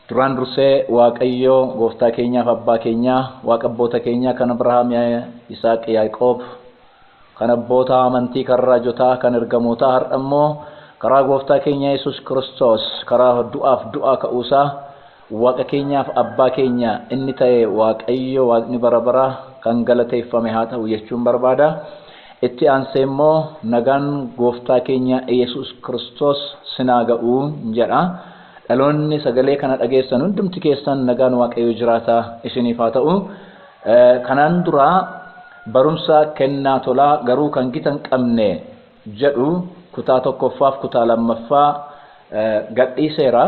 Duraan dursee Waaqayyoo gooftaa keenyaaf abbaa keenyaa waaqa abboota keenyaa kan Abrahaam Isaaq Yaaqoob kan abboota amantii kan raajotaa kan ergamootaa har'a immoo karaa gooftaa keenya Yesuus Kiristoos karaa du'aaf du'aa ka'uusaa Waaqa keenyaaf Abbaa keenya inni ta'e Waaqayyo Waaqni bara baraa kan galateeffame haa ta'u jechuun barbaada. Itti aansee immoo nagaan Gooftaa keenya Iyyasuus Kiristoos sin haa ga'u jedha. Dhaloonni sagalee kana dhageessan hundumti keessan nagaan Waaqayyo jiraataa isiniif haa ta'u. Kanaan dura barumsa kennaa tolaa garuu kan gita hin qabne jedhu kutaa tokkoffaaf kutaa lammaffaa gadhiiseera.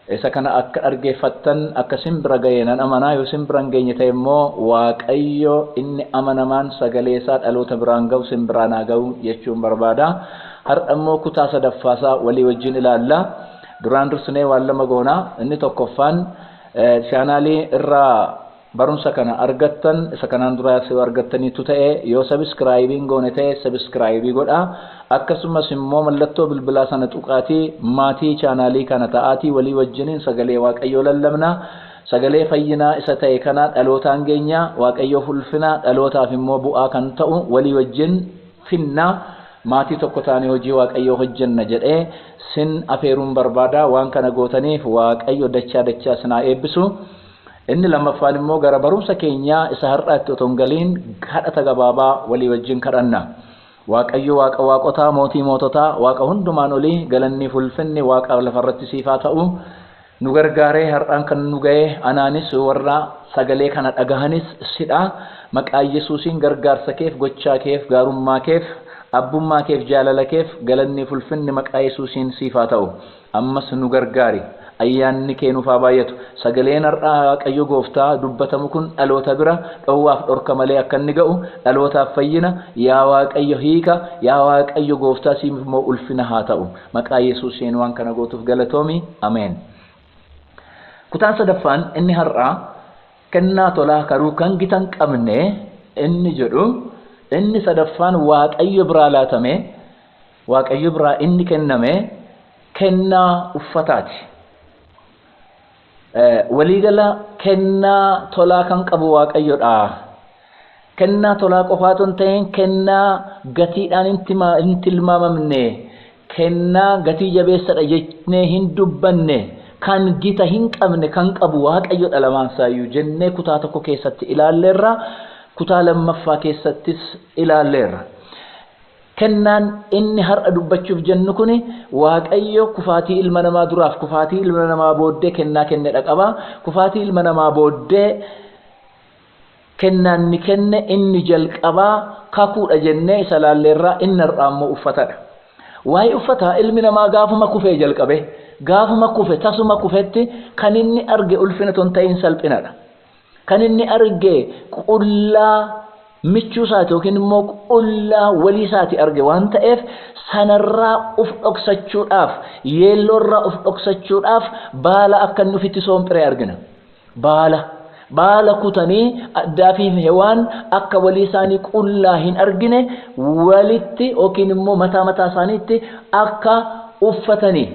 Isa kana akka dhaggeeffattan akka isin bira ga'e nan amana, yoo isin bira hin geenye ta'e immoo Waaqayyo inni amanamaan sagalee isaa dhaloota biraan ga'u isin biraan haa ga'u jechuun barbaada. Har'a immoo kutaa sadaffaa isaa walii wajjin ilaalla. Duraan dursinee waan lama goona. Inni tokkoffaan chaanaalii irraa Barumsa kana argattan isa kanaan duraas yoo argattaniittu ta'e yoo subscribe hin goone ta'e subscribe godhaa akkasumas immoo mallattoo bilbilaa sana tuqaatii maatii chaanaalii kana ta'aatii walii wajjiniin sagalee waaqayyoo lallabnaa sagalee fayyinaa isa ta'e kana dhalootaan geenyaa waaqayyoof ulfinaa dhalootaaf immoo bu'aa kan ta'u walii wajjin finnaa maatii tokko taanee hojii waaqayyoo hojjenna jedhee sin afeeruun barbaada waan kana gootaniif waaqayyo dachaa dachaa sinaa eebbisu Inni lammaffaan immoo gara barumsa keenyaa isa har'aatti otoo hin galiin kadhata gabaabaa walii wajjin kadhanna. Waaqayyo Waaqa waaqotaa, Mootii moototaa, Waaqa hundumaan olii, galanniif ulfinni Waaqa lafarratti siif haa ta'u. Nu gargaaree har'aan kan nu ga'e anaanis warra sagalee kana dhagahanis sidha. Maqaa Yesuusiin gargaarsa keef, gochaa keef, gaarummaa keef, abbummaa keef, jaalala keef galanniif ulfinni maqaa Yesuusiin siif haa ta'u. Ammas nu gargaari. Ayyaanni kee nuuf haa baay'atu. Sagaleen har'a Waaqayyo gooftaa dubbatamu kun dhaloota bira dhowwaaf dhorka malee akka inni ga'u, dhalootaaf fayyina, yaa Waaqayyo hiika, yaa Waaqayyo gooftaa siif immoo ulfina haa ta'u. Maqaa Yesuusiin waan kana gootuuf galatoomi. Ameen. Kutaan sadaffaan inni har'aa kennaa tolaa karuu kan gita hin qabne inni jedhu inni sadaffaan Waaqayyo biraa laatamee, Waaqayyo biraa inni kenname kennaa uffataati. Waliigala kennaa tolaa kan qabu Waaqayyodha. Kennaa tolaa qofaa otoo hin ta'in kennaa gatiidhaan hin tilmaamamne, kennaa gatii jabeessadha jennee hin dubbanne, kan gita hin qabne kan qabu Waaqayyodha lamaansaayyu jennee kutaa tokko keessatti ilaalleerra, kutaa lammaffaa keessattis ilaalleerra. Kennaan inni har'a dubbachuuf jennu kuni Waaqayyo kufaatii ilma namaa duraaf kufaatii ilma namaa booddee kennaa kennedha qaba. Kufaatii ilma namaa booddee kennaa inni kenne inni jalqabaa kakuudha jennee isa ilaalleerraa inni har'aa immoo uffatadha. Waa'ee uffataa ilmi namaa gaafuma kufee jalqabee gaafuma kufe tasuma kufetti kan inni arge ulfina otoo hin ta'iin salphinadha. Kan inni arge qullaa michuu isaati yookiin immoo qullaa walii isaati arge waan ta'eef sanarraa uf dhoksachuudhaaf, yeelloorraa uf dhoksachuudhaaf baala akka inni ufitti soompire argina. Baala. Baala kutanii Addaamii fi Hewaan akka walii isaanii qullaa hin argine walitti yookiin immoo mataa mataa isaaniitti akka uffatanii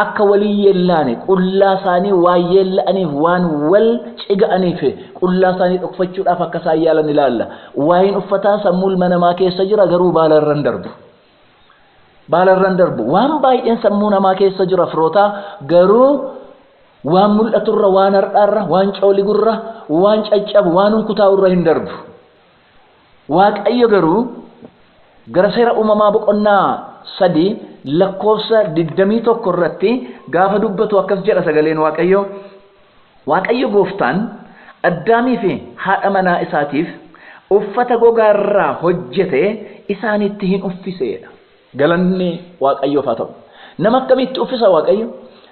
Akka wal hin yeellaane, qullaa isaanii waan yeella'aniif, waan wal ciga'aniif, qullaa isaanii dhokfachuudhaaf akka isaan yaalan ilaalla. Waayeen uffataa sammuu ilma namaa keessa jira, garuu baala irra hin darbu. Baala irra hin darbu. Waan baay'een sammuu namaa keessa jira firootaa, garuu waan mul'aturra, waan har'aarra, waan cooligu irra, waan caccabu, waan hunkutaa'u irra hin darbu. Waaqayyo garuu gara seera uumamaa boqonnaa 3 lakkoofsa 21 irratti gaafa dubbatu akkas jedha sagaleen Waaqayyoo Waaqayyo gooftaan Addaamii fi haadha manaa isaatiif uffata gogaa irraa hojjete isaanitti hin uffise jedha. Galanni Waaqayyoof haa ta'u. Nama akkamiitti uffisa Waaqayyo?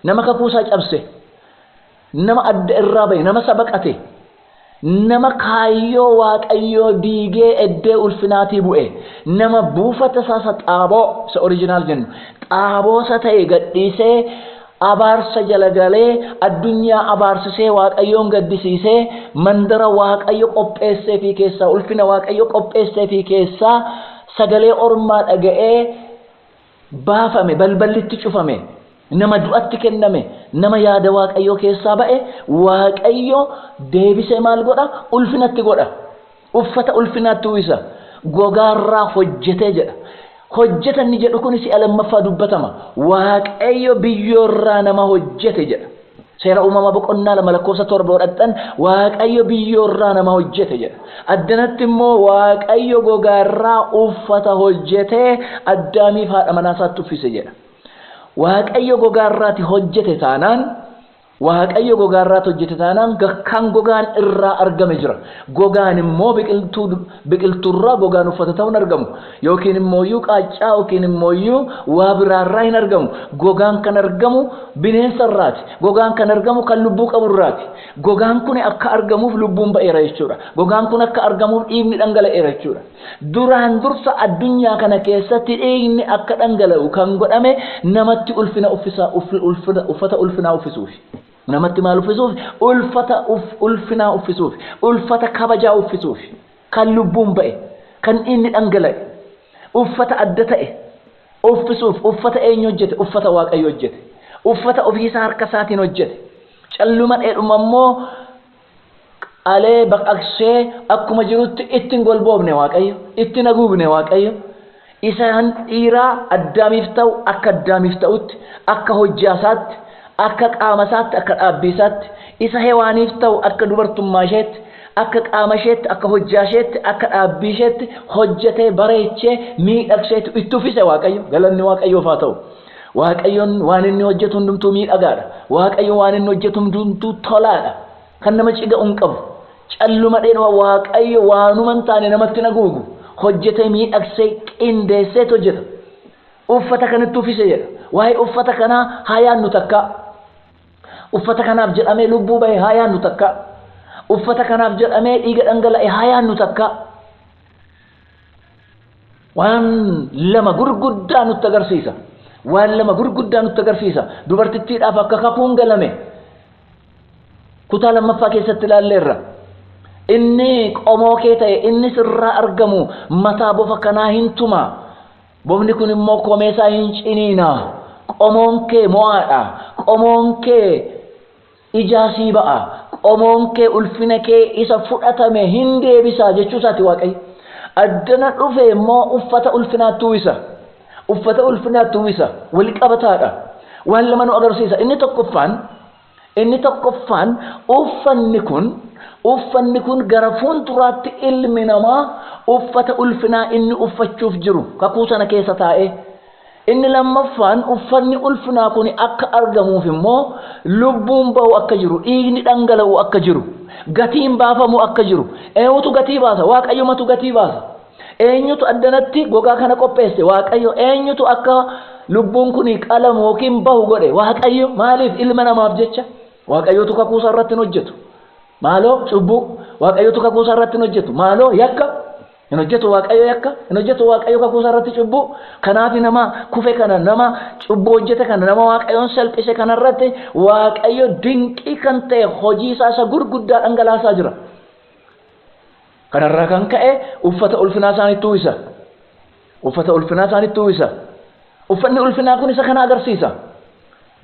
Nama kakuu isaa cabse, Nama adda irraa bahe, nama isa baqate, nama kaayyoo Waaqayyoo diigee eddee ulfinaatii bu'e, nama buufata isaa isa xaaboo, isa original jennu, xaaboo isa ta'e gadhiisee abaarsa jala galee addunyaa abaarsisee Waaqayyoon gaddisiisee mandara Waaqayyo qopheesseefii keessaa, ulfina Waaqayyo qopheesseefii keessaa sagalee ormaa dhaga'ee baafame, balballi itti cufame, nama du'atti kenname, nama yaada Waaqayyoo keessaa ba'e, Waaqayyo deebisee maal godha? Ulfina itti godha. Uffata ulfinaa itti uwwisa. Gogaarraa hojjetee jedha. Hojjeta inni jedhu kun si'a lammaffaa dubbatama. Waaqayyo biyyoorraa nama hojjete jedha. Seera Uumamaa boqonnaa 2 lakkoofsa 7 yoo dhaqxan Waaqayyo biyyoorraa nama hojjete jedha. Addanatti immoo Waaqayyo gogaarraa uffata hojjetee Addaamiif haadha manaa isaatti uffise jedha. Waaqayyo gogaarraati hojjete taanaan Waaqayyo gogaarraati hojjete taanaan kan gogaan irraa argame jira. Gogaan immoo biqiltuu biqiltuurraa gogaan uffata ta'u hin argamu yookiin immooyyuu qaaccaa yookiin immooyyuu waa biraarraa hin argamu. Gogaan kan argamu bineensa irraati. Gogaan kan argamu kan lubbuu qabu irraati. Gogaan kuni akka argamuuf lubbuun ba'eera jechuudha. Gogaan kun akka argamuuf dhiigni dhangala'eera jechuudha. Duraan dursa addunyaa kana keessatti dhiigni akka dhangala'u kan godhame namatti ulfina uffisa, ulfina, uffata ulfinaa uffisuufi. Namatti maal uffisuufi? Ulfata uff, ulfinaa uffisuufi. Ulfata kabajaa uffisuufi. Kan lubbuun ba'e, kan dhiigni dhangala'e, uffata adda ta'e uffisuuf. Uffata eenyu hojjete? Uffata Waaqayyo hojjete. Uffata ofii isaa harka isaatiin hojjete. Calluma dheedhuma immoo qalee baqaqsee akkuma jirutti itti hin golboofne Waaqayyo, itti hin haguugne Waaqayyo, isa kan dhiiraa Addaamiif ta'u akka Addaamiif ta'utti, akka hojjaasaatti, akka qaamasaatti, akka dhaabbiisaatti, isa Hewaaniif ta'u akka dubartummaasheetti, akka qaamasheetti, akka hojjaasheetti, akka dhaabbiisheetti hojjetee, bareechee, miidhagseetu itti uffise Waaqayyo, galanni Waaqayyoof haa ta'u. Waaqayyoon waan inni hojjetu hundumtuu miidhagaadha. Waaqayyo waan inni hojjetu hundumtuu tolaadha. Kan nama ciga'u hin qabu. Calluma dheedhuma Waaqayyo waanuma hin taane namatti hin haguugu. Hojjetee miidhagsee qindeesseet hojjeta. Uffata kanatti uffise jedha. Waa'ee uffata kanaa haa yaannu takkaa. Uffata kanaaf jedhamee lubbuu bahe haa yaannu takkaa. Uffata kanaaf jedhamee dhiiga dhangala'e haa yaannu takkaa. Waan lama gurguddaa nutti agarsiisa. Waan lama gurguddaa nutti agarsiisa. Dubartittiidhaaf akka kakuun galame kutaa lammaffaa keessatti ilaalleerra. Inni qomoo kee ta'e inni sirraa argamu mataa bofa kanaa hin tuma. Bofni kun immoo komee isaa hin ciniina. Qomoon kee mo'aadha. Qomoon kee Ijaa sii ba'a, qomoon kee ulfina kee isa fudhatame hin deebisa jechuu isaati Waaqayyo. Addana dhufe immoo uffata ulfinaatti uwwisa. Uffata ulfinaatti uwwisa. Wal qabataadha. Waan lama nu agarsiisa. Inni tokkoffaan inni tokkoffaan uffanni kun uffanni kun gara fuulduraatti ilmi namaa uffata ulfinaa inni uffachuuf jiru kakuu sana keessa taa'ee Inni lammaffaan uffanni ulfinaa kun akka argamuuf immoo lubbuun ba'u akka jiru, dhiigni dhangala'u akka jiru, gatiin baafamu akka jiru, eenyutu gatii baasa? Waaqayyumatu gatii baasa. Eenyutu addanatti gogaa kana qopheesse? Waaqayyo. Eenyutu akka lubbuun kun qalamu yookiin bahu godhe? Waaqayyo. Maaliif? Ilma namaaf jecha. Waaqayyotu kakuu isaa irratti hin hojjetu. Maaloo cubbuu. Waaqayyotu kakuu isaa irratti hin hojjetu. Maaloo yakka. Hin hojjetu Waaqayyo yakka, hin hojjetu Waaqayyo kakuu isaa irratti cubbuu. Kanaaf nama kufe kana, nama cubbuu hojjete kana, nama Waaqayyoon salphise kana irratti Waaqayyo dinqii kan ta'e hojii isaa isa gurguddaa dhangalaasaa jira. Kana irraa kan ka'e uffata ulfinaa isaanitti uwwisa. Uffata ulfinaa isaanitti uwwisa. Uffanni ulfinaa kun isa kana agarsiisa.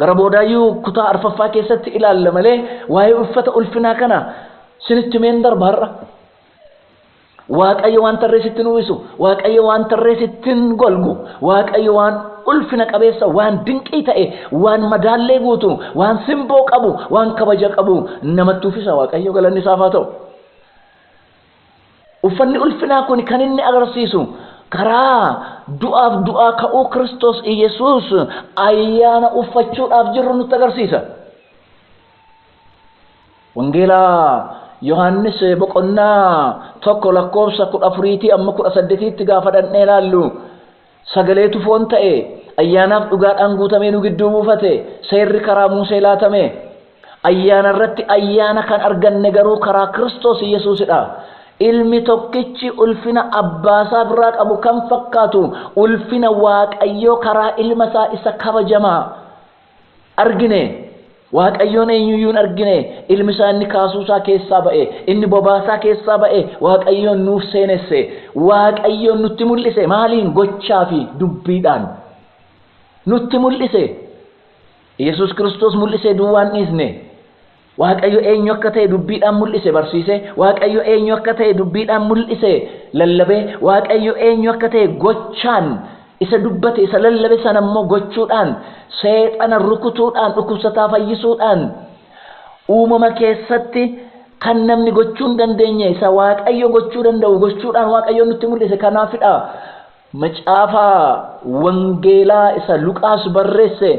Gara boodaayyuu kutaa arfaffaa keessatti ilaalla malee waa'ee uffata ulfinaa kana sinitti meen darba har'a. Waaqayyo waan tarree sittin uwwisu, Waaqayyo waan tarree sittin golgu, Waaqayyo waan ulfina qabeessa, waan dinqii ta'e, waan madaallee guutu, waan simboo qabu, waan kabaja qabu namatti uffisa. Waaqayyo galanni isaaf haa ta'u. Uffanni ulfinaa kun kan inni agarsiisu karaa du'aaf du'aa ka'uu Kiristoos Iyyasuus ayyaana uffachuudhaaf jirru nutti agarsiisa. Wangeela Yohaannis boqonnaa tokko lakkoofsa kudha afuriitii amma kudha saddetiitti gaafa dhannee ilaallu sagaleetu foon ta'e ayyaanaaf dhugaadhaan guutamee nu gidduu buufate seerri karaa Muusee laatame ayyaana irratti ayyaana kan arganne garuu karaa Kiristoos Yesuusidha. Ilmi tokkichi ulfina abbaasaa biraa qabu kan fakkaatu ulfina Waaqayyoo karaa ilma isaa isa kabajamaa argine, Waaqayyoon eenyu iyyuu hin argine, ilmi isaa inni kaasuu isaa keessaa ba'e, inni bobaa isaa keessaa ba'e, Waaqayyoon nuuf seenesse, Waaqayyoon nutti mul'ise, maaliin gochaa fi dubbiidhaan nutti mul'ise, Yesuus Kiristoos mul'isee duwwaan dhiisne. Waaqayyo eenyu akka ta'e dubbiidhaan mul'ise, barsiise, Waaqayyo eenyu akka ta'e dubbiidhaan mul'ise, lallabe, Waaqayyo eenyu akka ta'e gochaan isa dubbate, isa lallabe sana immoo gochuudhaan, seexana rukutuudhaan, dhukkubsataa fayyisuudhaan, uumama keessatti kan namni gochuu hin dandeenye isa Waaqayyo gochuu danda'u gochuudhaan Waaqayyoon nutti mul'ise kanaafidha. Macaafa Wangeelaa isa Luqaas barreesse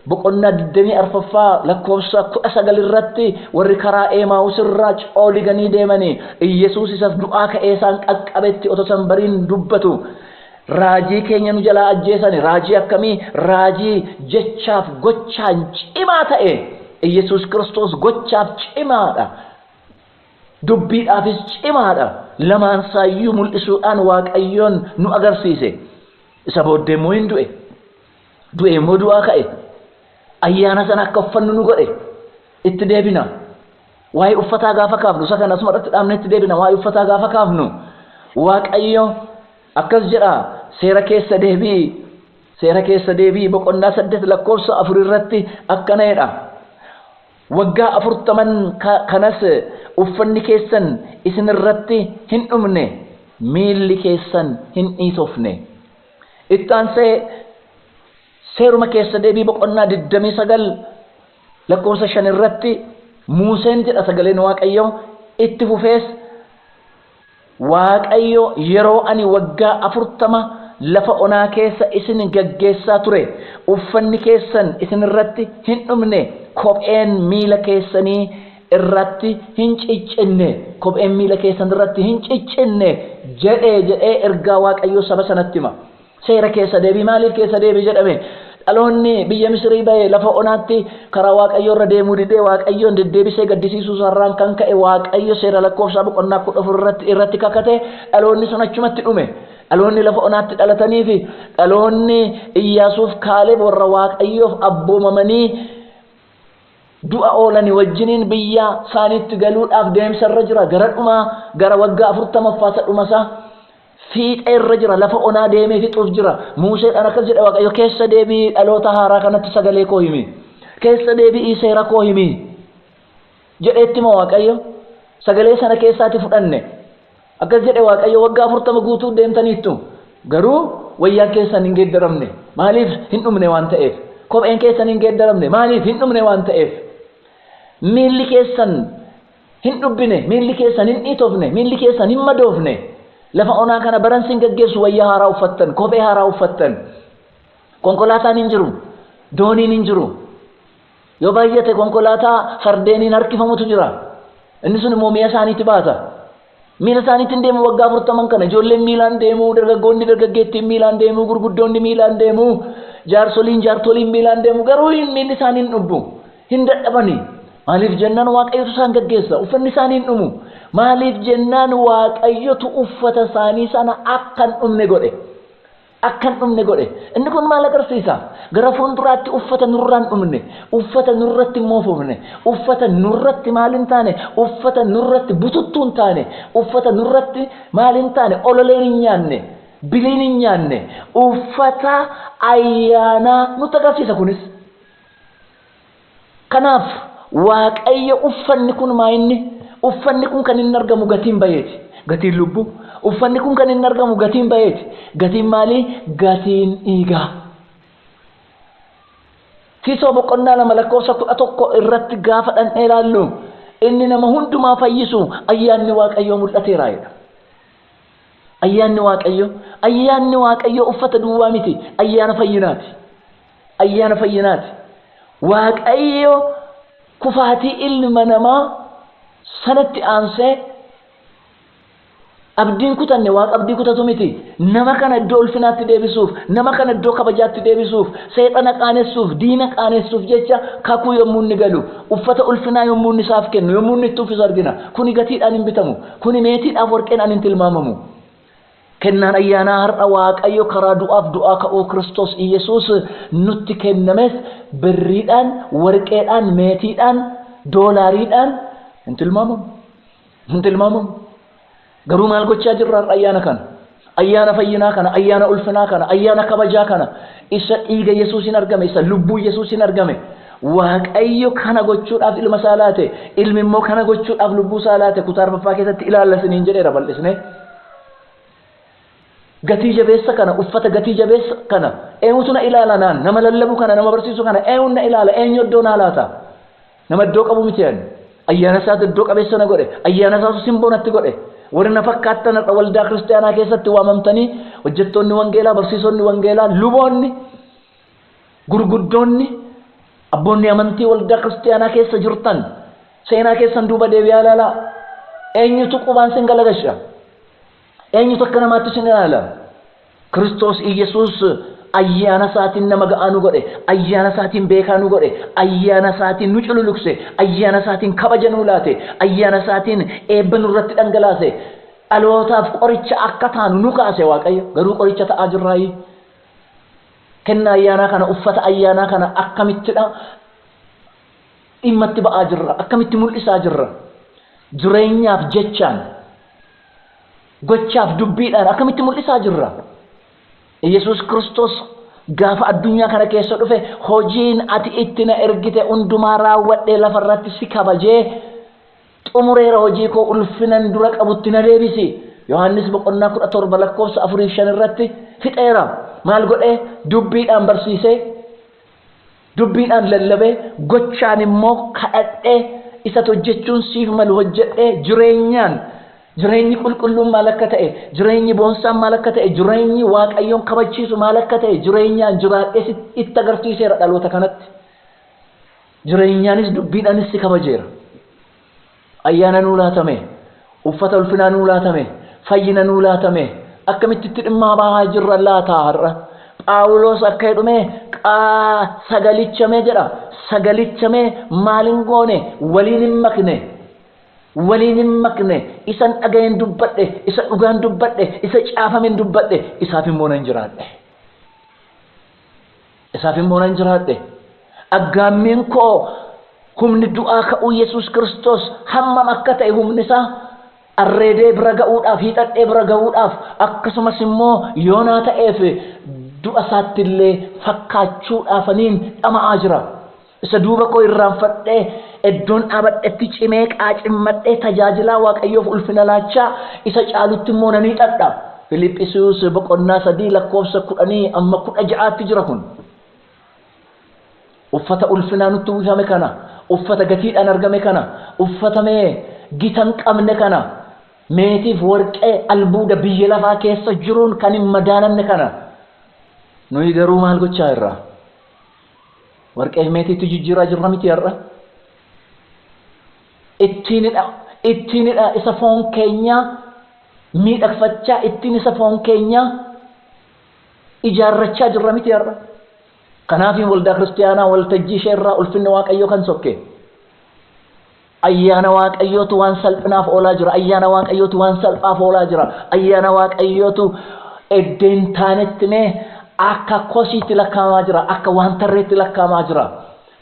boqonnaa 24ffaa lakkoofsa 19 irratti warri karaa Eemaawus irraa cooliganii deemani Iyyasuus isas du'aa ka'ee isaan qaqqabetti otoo isan bariin dubbatu Raajii keenya nu jalaa ajjeesani Raajii akkamii? Raajii jechaaf gochaan cimaa ta'e Iyyasuus Kiristoos gochaaf cimaadha. Dubbiidhaafis cimaa dha. Lamaan isaa iyyuu mul'isuudhaan Waaqayyoon nu agarsiise. Isa booddee immoo in du'e. Du'ee immoo du'aa ka'e. Ayyaana sana akka uffannu nu godhe. Itti deebina. Waa'ee uffataa gaafa kaafnu, isa kana asuma irratti dhaabnee itti deebina. Waa'ee uffataa gaafa kaafnu, Waaqayyo akkas jedha, seera keessa deebi'i, seera keessa deebi'i boqonnaa 8 lakkoofsa 4 irratti akkana jedha. Waggaa afurtaman kanas uffanni keessan isin irratti hin dhumne, miilli keessan hin dhiitofne. Itti aansee Seeruma Keessa Deebii boqonnaa 29 lakkoofsa 5 irratti Muuseen jedha sagaleen Waaqayyoo, itti fufees, Waaqayyo yeroo ani waggaa afurtama lafa onaa keessa isin gaggeessaa ture, uffanni keessan isin irratti hin dhumne, kopheen miila keessanii irratti hin ciccinne, kopheen miila keessan irratti hin ciccinne jedhe jedhee ergaa Waaqayyoo saba sanatti hima. Seera keessa deebi, maaliif keessa deebi jedhame? Dhaloonni biyya Misirii ba'e lafa onaatti karaa Waaqayyoo irra deemuu didee Waaqayyoon deddeebisee gaddisiisuu isaa irraan kan ka'e Waaqayyo Seera Lakkoofsaa boqonnaa 14 irratti irratti kakate dhaloonni sun achumatti dhume. Dhaloonni lafa onaatti dhalatanii fi dhaloonni Iyyaasuuf Kaaleb warra Waaqayyoof abboomamanii du'a oolani wajjiniin biyya isaaniitti galuudhaaf deemsa irra jira. Gara dhumaa gara waggaa 40ffaa isa dhuma isaa Fiixee irra jira, lafa onaa deemee fixuuf jira. Muuseedhaan akkas jedhe Waaqayyo, Keessa deebi'ii dhaloota haaraa kanatti sagalee koo himi. Keessa deebi'ii seera koo himi. jedhee itti hima Waaqayyo. Sagalee sana keessaati fudhanne. Akkas jedhe Waaqayyo, waggaa afurtama guutuu deemtaniittu. Garuu wayyaan keessan hin geeddaramne. Maaliif hin dhumne waan ta'eef. Kopheen keessan hin geeddaramne. Maaliif hin dhumne waan ta'eef. Miilli keessan Hin dhubbine, miilli keessan hin dhiitofne, miilli keessan hin madoofne. Lafa onaa kana baran sin gaggeessu, wayyaa haaraa uffattan, kophee haaraa uffattan. Konkolaataan hin jiru, dooniin hin jiru. Yoo baay'ate konkolaataa fardeeniin harkifamutu jira. Inni sun immoo mi'a isaaniiti baata. Miila isaaniitiin deemu waggaa afurtaman kana ijoolleen miilaan deemu, dargaggoonni dargaggeettiin miilaan deemu, gurguddoonni miilaan deemu, jaarsoliin jaartoliin miilaan deemu garuu hin miilli isaanii hin dhubbu. Hin dadhabani. Maaliif jennaan Waaqayyotu isaan gaggeessa. Uffanni isaanii hin dhumu. Maaliif jennaan Waaqayyotu uffata isaanii sana akka hin dhumne godhe. akka hin dhumne godhe. Inni kun maal agarsiisa? Gara fuulduraatti uffata nurraa hin dhumne, uffata nurratti hin moofofne, uffata nurratti maal hin taane, uffata nurratti bututtuu hin taane, uffata nurratti maal hin taane, ololeen hin nyaanne, biliin hin nyaanne, uffata ayyaanaa nutti agarsiisa kunis. Kanaaf Waaqayyo uffanni kun maayinni uffanni kun kan inni argamu gatiin bayeeti. Gatiin lubbuu uffanni kun kan inni argamu gatiin bayeeti. Gatiin maalii? Gatiin dhiigaa. Tiitoo boqonnaa lama lakkoofsa kudha tokko irratti gaafa dhandhee ilaallu inni nama hundumaa fayyisu ayyaanni Waaqayyoo mul'ateera jedha. Ayyaanni Waaqayyoo ayyaanni Waaqayyoo uffata duwwaa miti ayyaana fayyinaati. Ayyaana fayyinaati. Waaqayyo kufaatii ilma namaa sanatti aansee abdiin kutanne waaqa abdii kutatu miti. Nama kana iddoo ulfinaatti deebisuuf, nama kana iddoo kabajaatti deebisuuf, seexana qaanessuuf, diina qaanessuuf jecha kakuu yommuu inni galu, uffata ulfinaa yommuu inni isaaf kennu, yommuu inni itti uffisu argina. Kuni gatiidhaan hin bitamu. Kuni meetiidhaaf warqeen an hin tilmaamamu. Kennaan ayyaanaa har'a Waaqayyo karaa du'aaf du'aa ka'uu Kiristoos Iyyasuus nutti kennames birriidhaan, warqeedhaan, meetiidhaan, doolaariidhaan hin tilmaamamu. Hin tilmaamamu. Garuu maal gochaa jirra har'a ayyaana kana? Ayyaana fayyinaa kana, ayyaana ulfinaa kana, ayyaana kabajaa kana, isa dhiiga Yesuusiin argame, isa lubbuu Yesuusiin argame, Waaqayyo kana gochuudhaaf ilma isaa laate, ilmi immoo kana gochuudhaaf lubbuu isaa laate kutaa arfaffaa keessatti ilaalla isiniin jedheera bal'isnee. Gatii jabeessa kana, uffata gatii jabeessa kana eenyutu na ilaala naan? Nama lallabu kana, nama barsiisu kana eenyuun na ilaala? Eenyu iddoo naa laata? Nama iddoo qabu miti ani. Ayyaana isaatu iddoo qabeessa na godhe. Ayyaana isaatu simboo natti godhe. Warri na fakkaattan har'a waldaa kiristaanaa keessatti waamamtanii hojjettoonni wangeelaa, barsiisonni wangeelaa, luboonni Gurguddoonni, abboonni amantii waldaa Kiristiyaanaa keessa jirtan, seenaa keessan duuba deebi'aa ilaalaa. Eenyutu qubaan sin galagasha? Eenyutu akka namaatti sin ilaala? Kiristoos Iyyasuus ayyaana isaatiin nama ga'aa nu godhe, ayyaana isaatiin beekaa nu godhe, ayyaana isaatiin nu cululukse, ayyaana isaatiin kabaja nuu laate, ayyaana isaatiin eebba nurratti dhangalaase, dhalootaaf qoricha akka taanu nu kaase Waaqayyo. Garuu qoricha ta'aa jirraayii? Kennaa ayyaanaa kana, uffata ayyaanaa kana akkamittidha dhimma itti ba'aa jirra? Akkamitti mul'isaa jirra? Jireenyaaf jechaan, gochaaf dubbiidhaan akkamitti mul'isaa jirra? Yesuus Kiristoos gaafa addunyaa kana keessa dhufe hojiin ati itti na ergite hundumaa raawwadhee lafarratti si kabajee xumureera hojii koo ulfinan dura qabutti na deebisi Yohaannis boqonnaa 17 lakkoofsa 4 fi 5 irratti fixeera maal godhee dubbiidhaan barsiisee dubbiidhaan lallabee gochaan immoo kadhadhee isat hojjechuun siif malu hojjedhee jireenyaan jireenyi qulqulluun maal akka ta'e jireenyi boonsaan maal akka ta'e jireenyi waaqayyoon kabachiisu maal akka ta'e jireenyaan jiraadhee itti agarsiiseera dhaloota kanatti Jireenyaanis dubbiidhaanis si kabajeera. Ayyaana nuu laatame, uffata ulfinaa nuu laatame, fayyina nuu laatame akkamitti itti dhimmaa bahaa jirra laata har'a? Phaawuloos akka jedhumee qaa sagalichamee jedha. Sagalichamee maal hin goone? Waliin hin makne. Waliin hin makne. Isan dhaga'een dubbadhe, isa dhugaan dubbadhe, isa caafamen dubbadhe, isaaf immoo nan jiraadhe. Isaaf immoo nan jiraadhe. Aggaammiin koo humni du'aa ka'uu Yesuus Kiristoos hammam akka ta'e humni isaa arreedee bira ga'uudhaaf, hiixadhee bira ga'uudhaaf, akkasumas immoo yoo naa ta'eef du'a isaatti illee fakkaachuudhaafaniin dhama'aa jira. Isa duuba koo irraanfadhee, eddoon dhaabadhetti cimee qaacimmadhee tajaajilaa Waaqayyoof ulfina laachaa, isa caalutti immoo nan hiixadha. Filiphisius boqonnaa 3 lakkoofsa 10-16 tti jira kun. Uffata ulfinaa nutti uwwifame kana, uffata gatiidhaan argame kana, uffata mee gita hin qabne kana, meetiif warqee, albuuda biyya lafaa keessa jiruun kan hin madaalamne kana, nuyi garuu maal gochaa jirra? Warqee meetiitti jijjiiraa jirra miti har'a. Ittiinidha, ittiinidha isa foon keenyaa miidhagfachaa, ittiin isa foon keenyaa ijaarrachaa jirra miti har'a. Kanaafiin waldaa kiristiyaanaa waltajjii ishee irraa ulfinni Waaqayyoo kan sokke. Ayyaana Waaqayyootu waan salphinaaf oolaa jira. Ayyaana Waaqayyootu waan salphaaf oolaa jira. Ayyaana Waaqayyootu edda hin taanetti mee akka kosiitti lakkaa'amaa jira. Akka waan tarreetti lakkaa'amaa jira.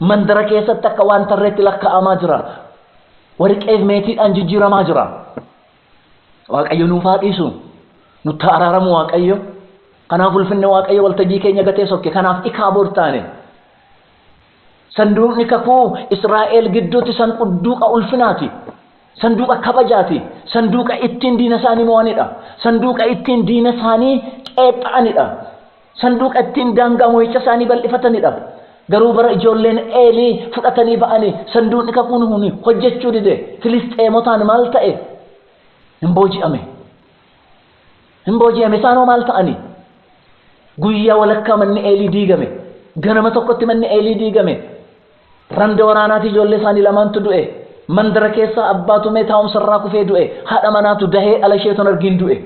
Mandara keessatti akka waan tarreetti lakkaa'amaa jira. Warqeef meetiidhaan jijjiiramaa jira. Waaqayyo nuuf haa dhiisu. Nutti haa araaramu Waaqayyo. Kanaaf ulfinni Waaqayyo waltajjii keenya gatee sokke. Kanaaf ikaa bor taane. Sanduuqni kakuu Israa'el gidduutti sanqduuqa ulfinaati, sanduuqa kabajaati, sanduuqa ittiin diina isaanii mo'anidha, sanduuqa ittiin diina isaanii qeepha'anidha, sanduuqa ittiin daangaa mo'icha isaanii bal'ifatanidha. Garuu bara ijoolleen Eelii fudhatanii ba'anii sanduuqni kakuun hun hojjechuu dide Filisxeemotaan maal ta'e? Hin booji'ame. Hin booji'ame isaan hoo maal ta'ani? Guyyaa walakkaa manni Eelii diigame, ganama tokkotti manni Eelii diigame, randa waraanaatii ijoollee isaanii lamaantu du'e, mandara keessaa abbaa tumee taa'umsa irraa kufee du'e, haadha manaatu dahee dhala ishee ton argiin du'e.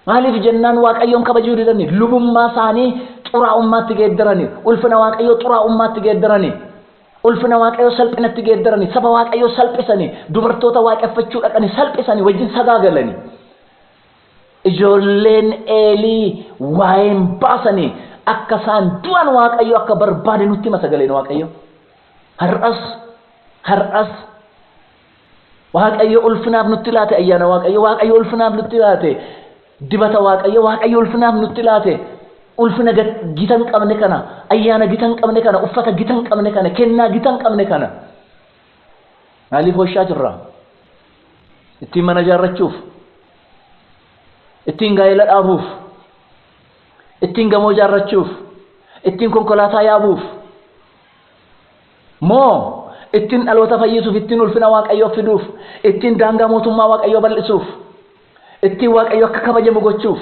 Maaliif jennaan Waaqayyoon kabajuu didani, lubummaa isaanii xuraa'ummaatti geeddarani, ulfina Waaqayyoo xuraa'ummaatti geeddarani, ulfina Waaqayyoo salphinatti geeddarani, saba Waaqayyoo salphisani, dubartoota waaqeffachuu dhaqani salphisani, wajjin sagaagalani. Ijoolleen Eelii waa'ee hin baasani. Akka isaan du'an Waaqayyo akka barbaade nutti hima sagaleen Waaqayyo. Har'as, har'as Waaqayyo ulfinaaf nutti laate ayyaana Waaqayyo, Waaqayyo ulfinaaf nutti laate dibata Waaqayyo, Waaqayyo ulfinaaf nutti laate ulfina ga- gita hin qabne kana, ayyaana gita hin qabne kana, uffata gita hin qabne kana, kennaa gita hin qabne kana. Maaliif washaa jirra? Ittiin mana ijaarrachuuf? Ittiin gaa'ela dhaabuuf? Ittiin gamoo ijaarrachuuf? Ittiin konkolaataa yaabuuf? Moo ittiin dhaloota fayyisuuf, ittiin ulfina Waaqayyoof fiduuf, ittiin daangaa mootummaa Waaqayyoo bal'isuuf, ittiin Waaqayyo akka kabajamu gochuuf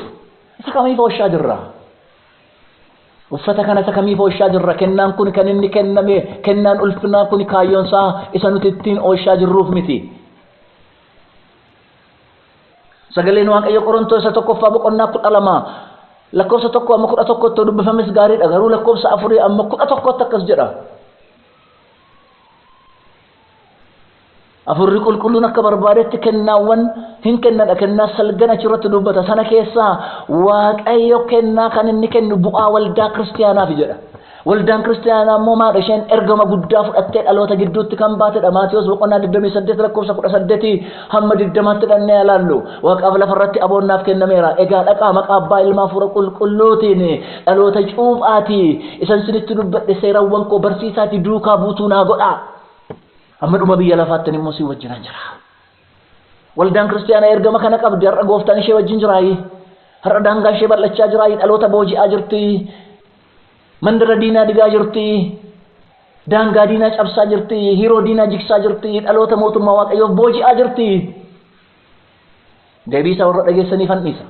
isa kamiif washaa jirra? Uffata kana isa kamiif oolchaa jirra? Kennaan kun kan inni kenname, kennaan ulfinaa kun kaayyoon isaa isa nuti ittiin oolchaa jirruuf miti. Sagaleen Waaqayyo Qorontoos isa tokkoffaa boqonnaa kudha lama lakkoofsa tokko amma kudha tokkotti dubbifames gaariidha. Garuu lakkoofsa afurii amma kudha tokkotti akkas jedha. Hafuurri Qulqulluun akka barbaadetti kennaawwan hin kennadha. Kennaa salgan achirratti dubbata. Sana keessaa Waaqayyo kennaa kan inni kennu bu'aa waldaa kiristiyaanaafi jedha. Waldaan kiristiyaanaa immoo maadha isheen ergama guddaa fudhattee dhaloota gidduutti kan baatedha. Maatiyos boqonnaa 28 lakkoofsa 18 hamma 20tti dhannee ilaallu. Waaqaaf lafarratti aboon naaf kennameera. Egaa dhaqaa maqaa abbaa ilmaa hafuura qulqulluutiin dhaloota cuuphaatii isan isinitti dubbadhe seerawwan koo barsiisaatii duukaa buutuu naa godhaa. Hamma dhuma biyya lafaatti ani immoo si wajjinan jira. Waldaan kiristiyaanaa ergama kana qabdi. Har'a gooftaan ishee wajjin jiraayi. Har'a daangaan ishee bal'achaa jiraayi. Dhaloota booji'aa jirti. Mandara diinaa digaa jirti. Daangaa diinaa cabsaa jirti. Hiroo diinaa jigsaa jirti. Dhaloota mootummaa waaqayyoof booji'aa jirti. Deebii isaa warra dhageessaniif handhiisa.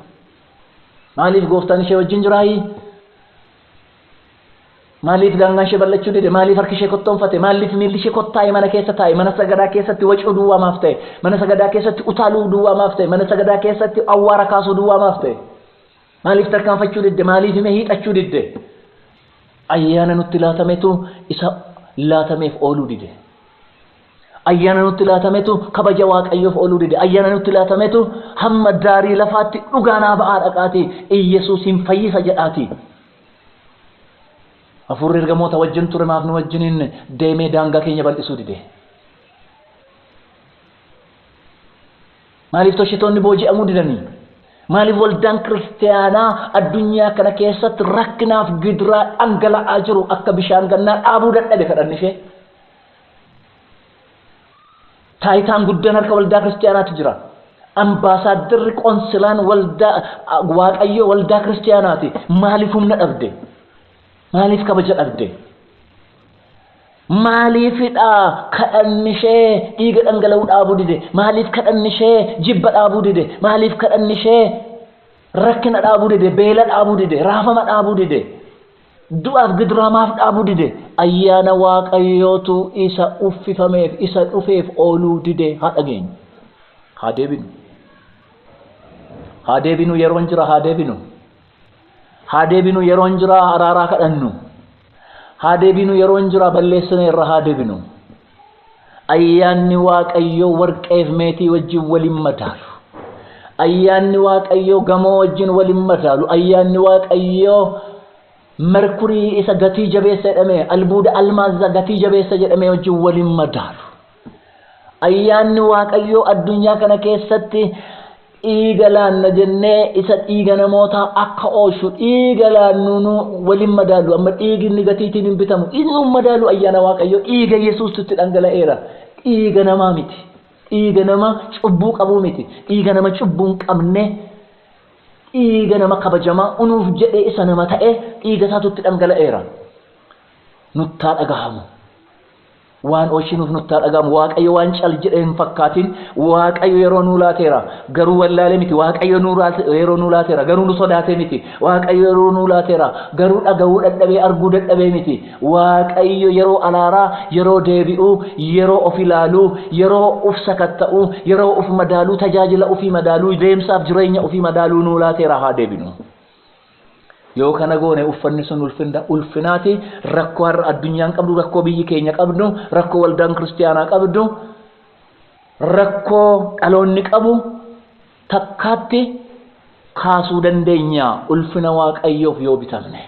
Maaliif gooftaan ishee wajjin jiraayi? Maaliif daangaan ishee bal'achuu dide? Maaliif harki ishee kottoonfate? Maaliif miilli ishee kottaa'e mana keessa taa'e? Mana sagadaa keessatti wacuu duwwaa maaf ta'e? Mana sagadaa keessatti utaaluu duwwaa maaf ta'e? Mana sagadaa keessatti awwaara kaasuu duwwaa maaf ta'e? Maaliif tarkaanfachuu didde? Maaliif himee hiixachuu didde? Ayyaana nutti laatametu isa laatameef ooluu dide. Ayyaana nutti laatametu kabaja Waaqayyoof ooluu dide. Ayyaana nutti laatametu hamma daarii lafaatti dhugaa naa ba'aa dhaqaatii Iyyesuus hin fayyisa jedhaatii. Hafuurri ergamoota wajjin ture maaf nu wajjin hin deemee daangaa keenya bal'isuu dide? Maaliif toshitoonni booji'amuu didanii? Maaliif waldaan kiristaanaa addunyaa kana keessatti rakkinaaf gidiraa dhangala'aa jiru akka bishaan gannaa dhaabuu dadhabe kadhanni ishee? Taayitaan guddaan harka waldaa kiristaanaatti jira. Ambaasaaddarri qonsilaan waldaa waaqayyoo waldaa kiristaanaati. Maaliif humna dhabde? Maaliif kabaja dhabde? Maaliifidha kadhanni ishee dhiiga dhangala'uu dhaabuu dide? Maaliif kadhanni ishee jibba dhaabuu dide? Maaliif kadhanni ishee rakkina dhaabuu dide? Beela dhaabuu dide? Raafama dhaabuu dide? Du'aaf gidiraa maaf dhaabuu dide? Ayyaana Waaqayyootu isa uffifameef, isa dhufeef ooluu dide. Haa dhageenyu. Haa deebinu. Haa deebinu yeroon jira haa deebinu. Haa deebinu yeroon jira araaraa kadhannu. Haa deebinu yeroon jira balleessineerra haa deebinu. Ayyaanni Waaqayyoo warqeef meetii wajjin wal hin madaalu. Ayyaanni Waaqayyoo gamoo wajjin wal hin madaalu. Ayyaanni Waaqayyoo merkurii isa gatii jabeessa jedhame, albuuda almaazza gatii jabeessa jedhame wajjin wal hin madaalu. Ayyaanni Waaqayyoo addunyaa kana keessatti Dhiiga laanna jennee isa dhiiga namootaa akka oolchu dhiiga laannu nu wal hin madaalu. Amma dhiigi inni gatiitiin hin bitamu inni hin madaalu ayyaana Waaqayyoo dhiiga Yesuustu itti dhangala'eera. Dhiiga namaa miti. Dhiiga nama cubbuu qabuu miti. Dhiiga nama cubbuu hin qabne dhiiga nama kabajamaa unuuf jedhee isa nama ta'e dhiiga isaatu itti dhangala'eera. Nuttaa dhagahamu. Waan oolchinuuf nutti haa dhaga'amu. Waaqayyo waan cal jedhee hin fakkaatin. Waaqayyo yeroo nuu laateera. Garuu wallaalee miti. Waaqayyo nuu laate- yeroo nuu laateera. Garuu nu sodaatee miti. Waaqayyo yeroo nuu laateera. Garuu dhaga'uu dadhabee, arguu dadhabee miti. Waaqayyo yeroo alaaraa, yeroo deebi'uu, yeroo of ilaaluu, yeroo uf sakatta'uu, yeroo uf madaaluu, tajaajila ufii madaaluu, deemsaaf jireenya ufii madaaluu nuu laateera. Haa deebinu. Yoo kana goone uffanni sun ulfinna ulfinaati rakkoo har'a addunyaan qabdu rakkoo biyyi keenya qabdu rakkoo waldaan kiristiyaanaa qabdu rakkoo dhaloonni qabu takkaatti kaasuu dandeenya ulfina waaqayyoof yoo bitamne.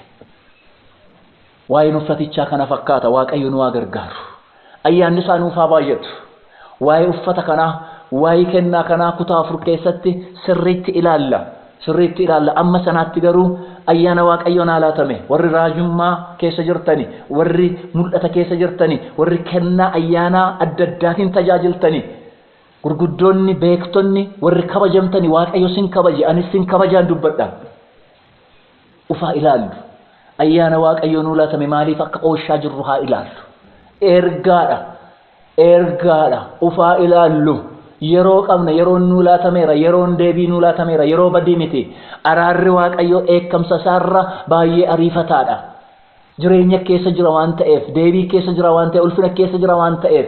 Waa'een uffatichaa kana fakkaata Waaqayyo nu haa gargaaru. Ayyaanni isaa nuuf haa baay'atu. Waa'ee uffata kanaa, waa'ee kennaa kanaa kutaa afur keessatti sirriitti ilaalla. Sirriitti ilaalla. Amma sanaatti garuu ayyaana Waaqayyo naa laatame warri raajummaa keessa jirtani, warri mul'ata keessa jirtani, warri kennaa ayyaanaa adda addaatiin tajaajiltani, gurguddoonni, beektonni, warri kabajamtani Waaqayyo sin kabaje anis sin kabajaan dubbadha. Of haa ilaallu. Ayyaana Waaqayyoo nuu laatame maaliif akka ooshaa jirru haa ilaallu. Ergaadha. Ergaadha. Of haa ilaallu. Yeroo qabna, yeroon nuu laatameera, yeroon deebii nuu laatameera, yeroo badii miti. Araarri Waaqayyoo dheekkamsa isaarra baay'ee ariifataadha. Jireenya keessa jira waan ta'eef, deebii keessa jira waan ta'eef, ulfina keessa jira waan ta'eef.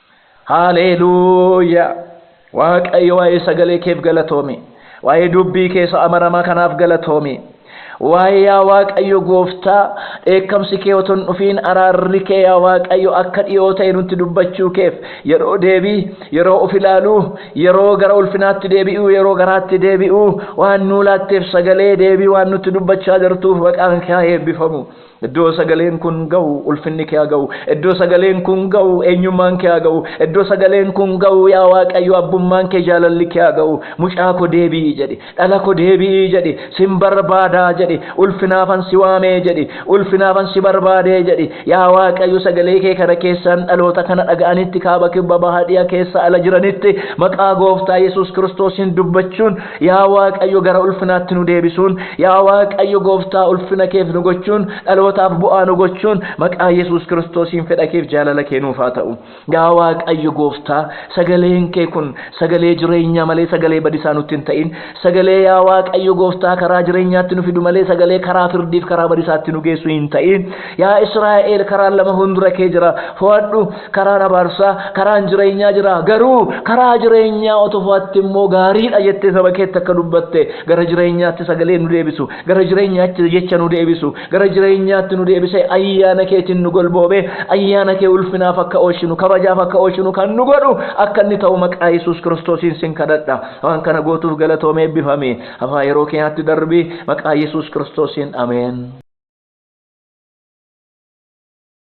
Haleeluuyaa! Waaqayyo waa'ee sagalee keef galatoomi. Waa'ee dubbii kee isa amanamaa kanaaf galatoomi. Waa'ee yaa Waaqayyo gooftaa dheekkamsi kee otoo hin dhufiin araarri kee yaa Waaqayyo akka dhiyoo ta'e nutti dubbachuu keef yeroo deebii, yeroo of ilaaluu, yeroo gara ulfinaatti deebi'uu, yeroo garaatti deebi'uu waan nuu laatteef sagalee deebii waan nutti dubbachaa jirtuuf maqaan kee haa eebbifamu. Iddoo sagaleen kun ga'u ulfinni kee haa ga'u. Iddoo sagaleen kun ga'u eenyummaan kee haa ga'u. Iddoo sagaleen kun ga'u yaa Waaqayyo abbummaan kee jaalalli kee haa ga'u. Mucaa ko deebi'i jedhi. Dhala ko deebi'i jedhi. Sin barbaada jedhi. Ulfinaafan si waame jedhi. Ulfinaafan si barbaade jedhi. Yaa Waaqayyo sagalee kee kana keessaan dhaloota kana dhaga'anitti kaaba kibba baha dhi'a keessa ala jiranitti maqaa gooftaa Yesuus Kiristoosiin dubbachuun Yaa Waaqayyo gara ulfinaatti nu deebisuun, yaa Waaqayyo Gooftaa ulfina keef nu gochuun, dhalootaaf bu'aa nu gochuun, maqaa Yesuus Kiristoosiin fedha keef jaalala kee nuuf haa ta'u. Yaa Waaqayyo Gooftaa, sagaleen kee kun sagalee jireenyaa malee sagalee badisaa nutti hin ta'in. Sagalee yaa Waaqayyo Gooftaa karaa jireenyaatti nu fidu malee sagalee karaa firdiif karaa badisaatti nu geessu hin ta'in. Yaa Israa'eel karaan lama fuundura kee jira, fo'adhu. Karaan abaarsaa karaan jireenyaa jira garuu karaa jireenyaa otoo fo'atte immoo gaariidha jettee saba keetti akka dubbatte gara jireenyaatti sagalee nu deebisu gara jireenyaatti jecha nu deebisu gara jireenyaatti nu deebisee ayyaana keetiin nu golboobee ayyaana kee ulfinaaf akka oolchinu kabajaaf akka oolchinu kan nu godhu akka inni ta'u maqaa Yesuus Kiristoosiin sin kadhadha waan kana gootuuf galatoomee eebbifami hafaa yeroo keenyaatti darbii maqaa Yesuus Kiristoosiin ameen.